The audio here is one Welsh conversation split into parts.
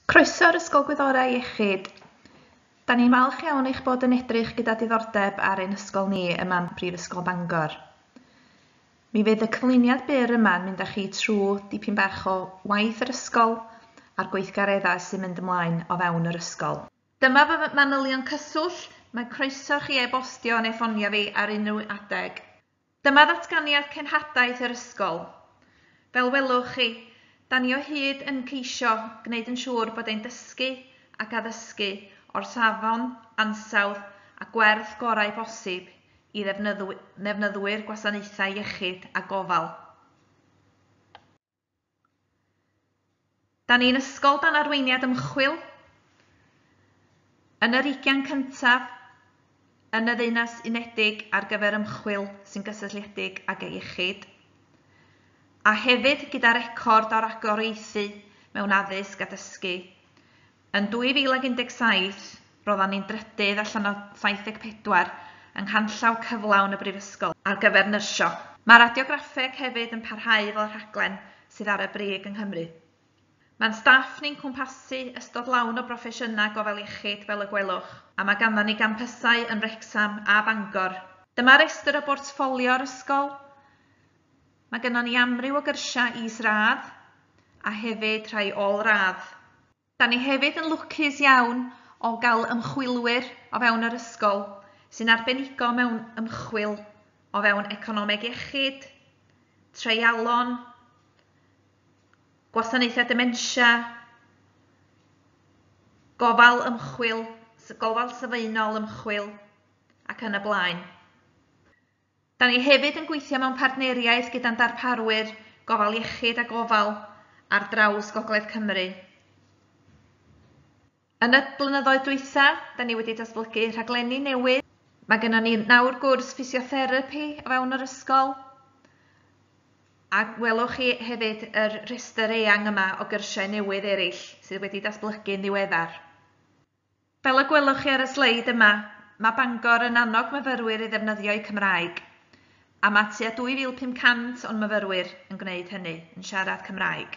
Croeso i'r Ysgol Gwyddorau Iechyd. Da ni'n falch iawn eich bod yn edrych gyda diddordeb ar ein ysgol ni ym Mhan Prifysgol Bangor. Mi fydd y cyflwyniad byr yma'n mynd â chi trwy dipyn bach o waith yr ysgol a'r gweithgareddau sy'n mynd ymlaen o fewn yr ysgol. Dyma fy manylion cyswllt, mae croeso chi e-bostio neu ffonio fi ar unrhyw adeg. Dyma ddatganiad cenhadaeth yr ysgol. Fel welwch chi, da ni o hyd yn ceisio gwneud yn siŵr bod ein dysgu ac addysgu o'r safon, ansawdd a gwerth gorau posib i ddefnyddwyr gwasanaethau iechyd a gofal. Da ni'n ysgol dan arweiniad ymchwil, yn yr ugain cyntaf yn y Ddeunais Unedig ar gyfer ymchwil sy'n gysylltiedig ag y iechyd, a hefyd gyda record o ragoriaethu mewn addysg a dysgu. Yn 2017, roeddan ni'n drydydd allan o 74 yng nghanllaw cyflawn y Brifysgol ar gyfer nyrsio. Mae radiograffeg hefyd yn parhau fel y rhaglen sydd ar y brig yng Nghymru. Mae'n staff ni'n cwmpasu ystod lawn o broffesiynau gofal iechyd fel y gwelwch, a mae ganddon ni gampysau yn Wrecsam a Bangor. Dyma restr o bortffolio'r ysgol. Mae gynnon ni amryw o gyrsiau is-radd a hefyd rhai ôl-radd. Da ni hefyd yn lwcus iawn o gael ymchwilwyr o fewn yr ysgol sy'n arbenigo mewn ymchwil o fewn economeg iechyd, treialon, gwasanaethau dementia, gofal ymchwil, gofal sylfaenol ymchwil ac yn y blaen. Da ni hefyd yn gweithio mewn partneriaeth gyda'n darparwyr gofal iechyd a gofal ar draws Gogledd Cymru. Yn y blynyddoedd dwytha, da ni wedi datblygu rhaglenni newydd. Mae gennym ni nawr gwrs ffisiotherapi o fewn yr ysgol, a welwch chi hefyd yr rhestr eang yma o gyrsiau newydd eraill sydd wedi datblygu'n ddiweddar. Fel y gwelwch chi ar y sleid yma, mae Bangor yn annog myfyrwyr i ddefnyddio eu Cymraeg, a mae tua 2,500 o'n myfyrwyr yn gwneud hynny, yn siarad Cymraeg.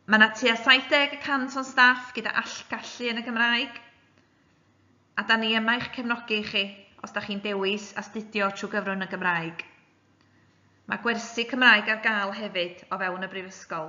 Mae yna tua 70 y cant o'n staff gyda allgallu yn y Gymraeg, a da ni yma i'ch cefnogi chi os da chi'n dewis astudio trwy gyfrwng y Gymraeg. Mae gwersi Cymraeg ar gael hefyd o fewn y Brifysgol.